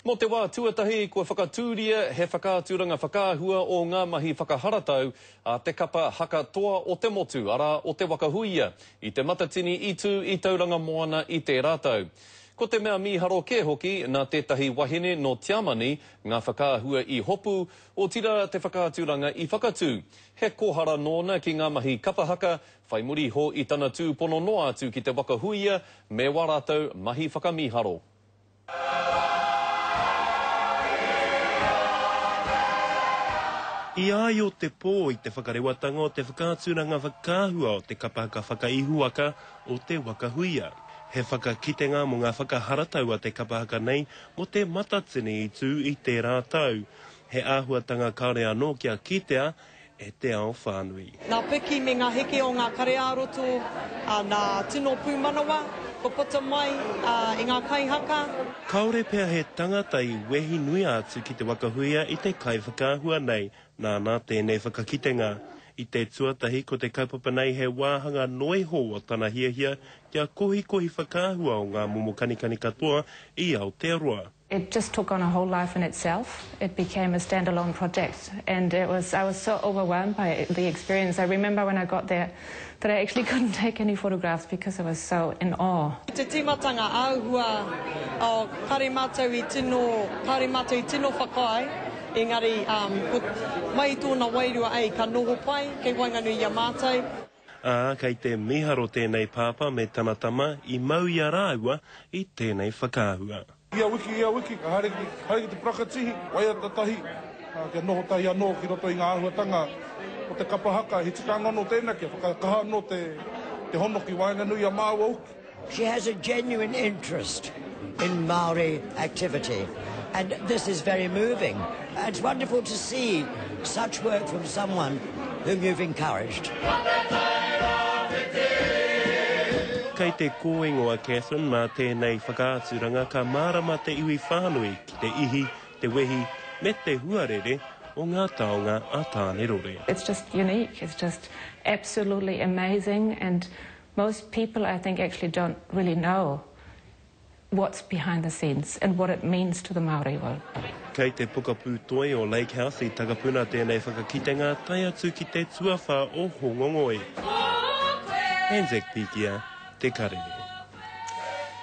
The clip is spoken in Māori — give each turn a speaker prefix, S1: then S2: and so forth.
S1: Mō te wā tuatahi, kua whakatūria he whakaaturanga whakaahua o ngā mahi whakaharatau a te kapa haka toa o te motu, arā, o Te Waka Huia, i Te Matatini i tū i Tauranga Moana i tērā tau. Ko te mea mīharo kē hoki, nā tētahi wahine nō Tiamani ngā whakaahua i hopu, otirā te whakaaturanga i whakatū. He kōhara nōna ki ngā mahi kapa haka, whai muri iho i tana tūpono noa atu ki Te Waka Huia me wā rātou mahi whakamīharo.
S2: I a i o te pō i te whakarewatanga o te whakaaturanga whakaahua o te kapa haka whakaihuwaka o Te Waka Huia. He whakakitenga mō ngā whakaharatau a te kapa haka nei mō Te Matatini i tū i tērā tau. He āhuatanga kāore anō kia kitea e te ao whānui. Ngā piki me ngā
S3: heke o ngā kare-ā-roto, nā tino pūmanawa, kua puta mai e ngā kaihaka. Kāore pea
S2: he tangata i wehi nui atu ki te waka huia i te kaiwhakaahua nei, nāna tēnei whakakitenga. I te tuatahi ko te kaupapa nei he wāhanga noa iho o tana hiahia kia kohikohi whakaahua o ngā momo kanikani katoa i Aotearoa. It just took on
S4: a whole life in itself, it became a stand-alone project and it was, I was so overwhelmed by the experience, I remember when I got there that I actually couldn't take any photographs because I was so in awe. I te tīmatanga
S3: āhua, oh, kāore mātou i tino, kāore mātou i tino whakaae, engari, um, ko, mai i tōna wairua, ei, ka noho pai kei waenganui i a mātou. Ā, kei
S2: te mīharo tēnei pāpā me tana tama i mau i a rāua i tēnei whakaahua. Ia wiki, ia
S5: wiki, ka haere ki, haere ki te parakatihi, waiata tahi, ā, kia noho tahi anō ki roto i ngā āhuatanga o te kapa haka, he tikanga anō tēnā kia whakakaha anō te, te hono ki waenganui i a māua hoki. She has a
S6: genuine interest in Māori activity and this is very moving. It's wonderful to see such work from someone whom you've encouraged.
S2: Kei te kōingo a Catherine mā tēnei whakaaturanga ka mārama te iwi whānui ki te ihi, te wehi me te huarere o ngā taonga a Tānerore. It's just unique,
S4: it's just absolutely amazing and Most people I think actually don't really know what's behind the scenes and what it means to the Māori world. Kei te Pokapū
S2: Toi o Lake House i takapuna tēnei whakakitenga tae atu ki te tuawhā o Hōngongoi. Anzac Pikia, Te Karere.